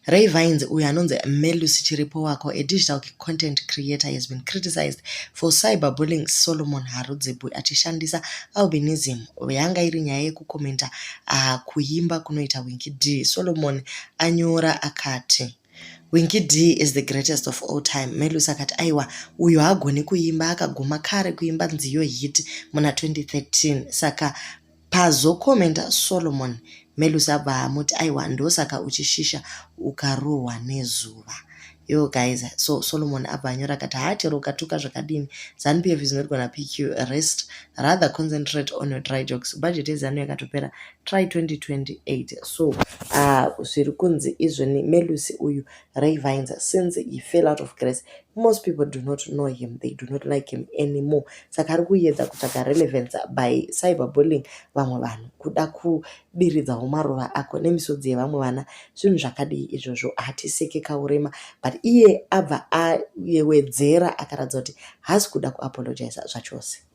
Ray Vines, uyo anonzi Melusi Chiripo Wako, a digital content creator, has been criticized for cyberbullying Solomon Harudzibwe achishandisa albinism yanga iri nyaya yekukomenta uh, kuimba kunoita Winky D. Solomon anyora akati Winky D is the greatest of all time. Melusi akati aiwa uyo hagoni kuimba akaguma kare kuimba nziyo hit muna 2013 saka Pazocommenta Solomon Melusi abva amuti aiwa ndosaka uchishisha ukarohwa nezuva yo guys so solomon abva anyora akati haa chero ukatuka zvakadini zanupf is not gonna pick you rest rather concentrate on your dry jokes budget yezanu yakatopera try 2028 so uh, zviri kunzi izvoni melusi uyu Ray Vines since he fell out of grace most people do not know him they do not like him anymore saka ari kuyedza kutsvaga relevance by cyberbullying vamwe vanhu kuda kudiridzawo maruva ako nemisodzi yevamwe vana zvinhu zvakadii izvozvo hatiseke kaurema but iye abva ayewedzera akaratidza kuti haasi kuda kuapologiza zvachose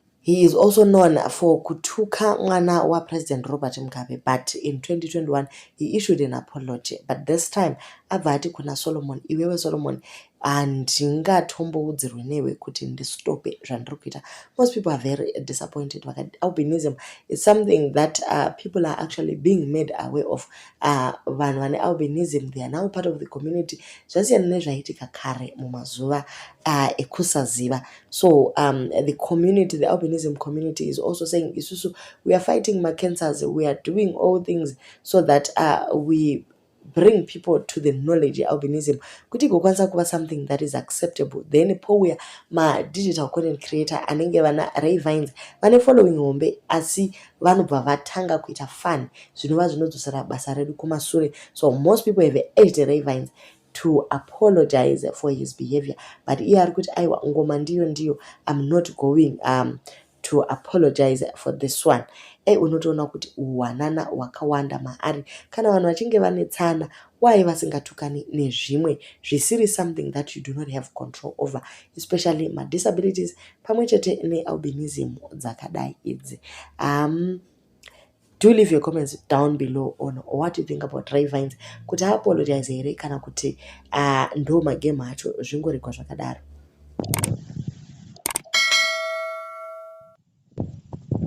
He is also known for kutuka mwana wa President Robert Mugabe but in 2021 he issued an apology but this time abva ati kuna Solomon iwewe Solomon handingatomboudzirwe newe kuti ndistope zvandiri kuita most people are very disappointed vakati albinism is something that uh, people are actually being made aware of uh, vanhu uh, vane albinism they are now part of the community zvasiyana nezvaitika kare mumazuva uh, ekusaziva so um, the community the albinism community is also saying isusu we are fighting macancers we are doing all things so that uh, we bring people to the knowledge yealbinism kuti igokwanisa kuva something that is acceptable then pouya madigital content creator anenge vana ravines vane following hombe asi vanobva vatanga kuita fun zvinova zvinodzosera basa redu kumasure so most people have ate ravines to apologize for his behavior but iye ari kuti aiwa ngoma ndiyo ndiyo im not going um, to apologize for this one ei unotoona kuti uwanana hwakawanda maari kana vanhu vachinge vane tsana why vasingatukani nezvimwe zvisiri something that you do not have control over especially madisabilities pamwe chete nealbinism dzakadai idzi um, do leave your comments down below on what you think about ray vines kuti aapologize here kana kuti uh, ndo magame acho zvingoregwa zvakadaro